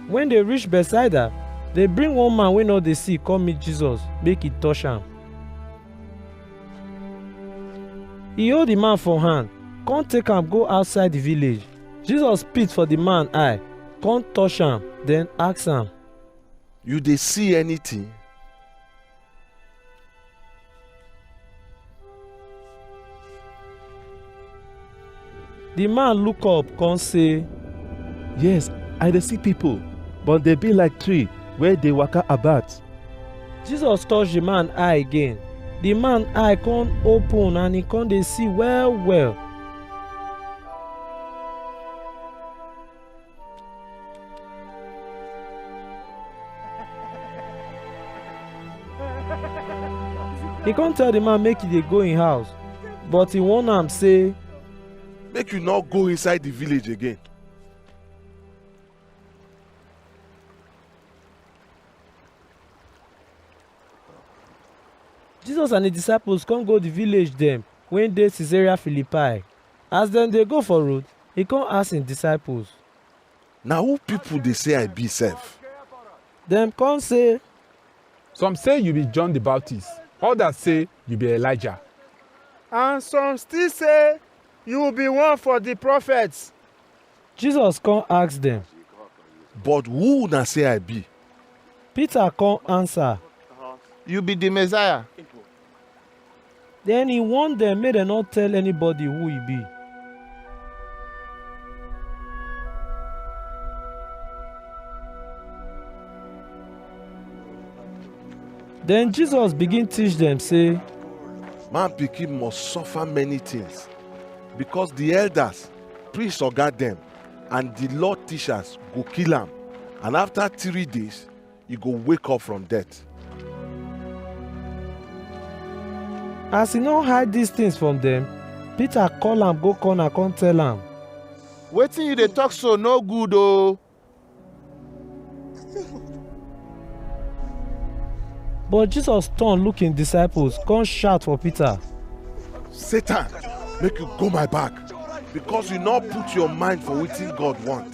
Wen dey reach Bethsaida, dey bring one man wey no dey see come meet Jesus make e touch am. E hold di man for hand, come take am go outside di village. Jesus spit for di man eye, come touch am, den ask am. You dey see anything? The man look up come say, Yes, I dey see people, but they be like tree wey dey waka about. Jesus touch the man eye again. The man eye come open and he come dey see well well. He come tell the man make he dey go im house, but he warn am say, make you no go inside the village again Jesus and his disciples come go the village dem wey dey Caesarea Philippi. As dem dey go for road, e kon ask en disciples. Na who pipol dey sey I bi sef? Dem kon sey. Some sey yu bi John di Baptist, odas sey yu bi Elijah. And some still sey yu bi one for di profets. Jesus kon ask dem. But who una sey I bi? Peter kon ansa. Yu bi di Messiah. Then he warned them make dem no tell anybody who he be. Then Jesus begin teach them say, Man pikin must suffer many things because the elders, priests oga dem and the law teachers go kill am and after three days e go wake up from death. As he no hide these things from them, Peter call am go corner come tell am. Wetin you dey talk so no good oo. But Jesus turn look him disciples come shout for Peter. Satan, make you go my back because you no put your mind for wetin God want.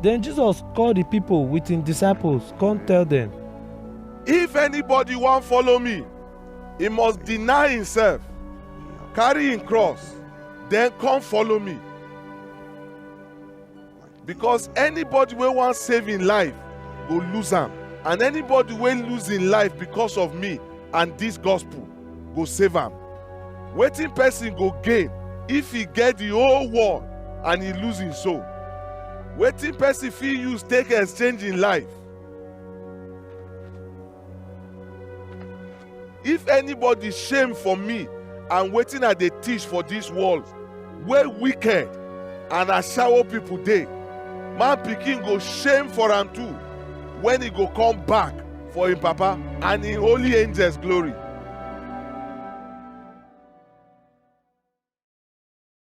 Then Jesus called the people with his disciples, come tell them, If anybody wan follow me, he must deny himself, carry him cross, then come follow me. Because anybody wey wan save im life go lose am, and anybody wey lose im life because of me and dis gospel go save am. Wetin person go gain if e get the whole world and e lose im soul? Wetin person fit use take exchange im life? if anybody shame for me and wetin i dey teach for dis world wey wicked and ashawo people dey man pikin go shame for am too when he go come back for him papa and him holy angels glory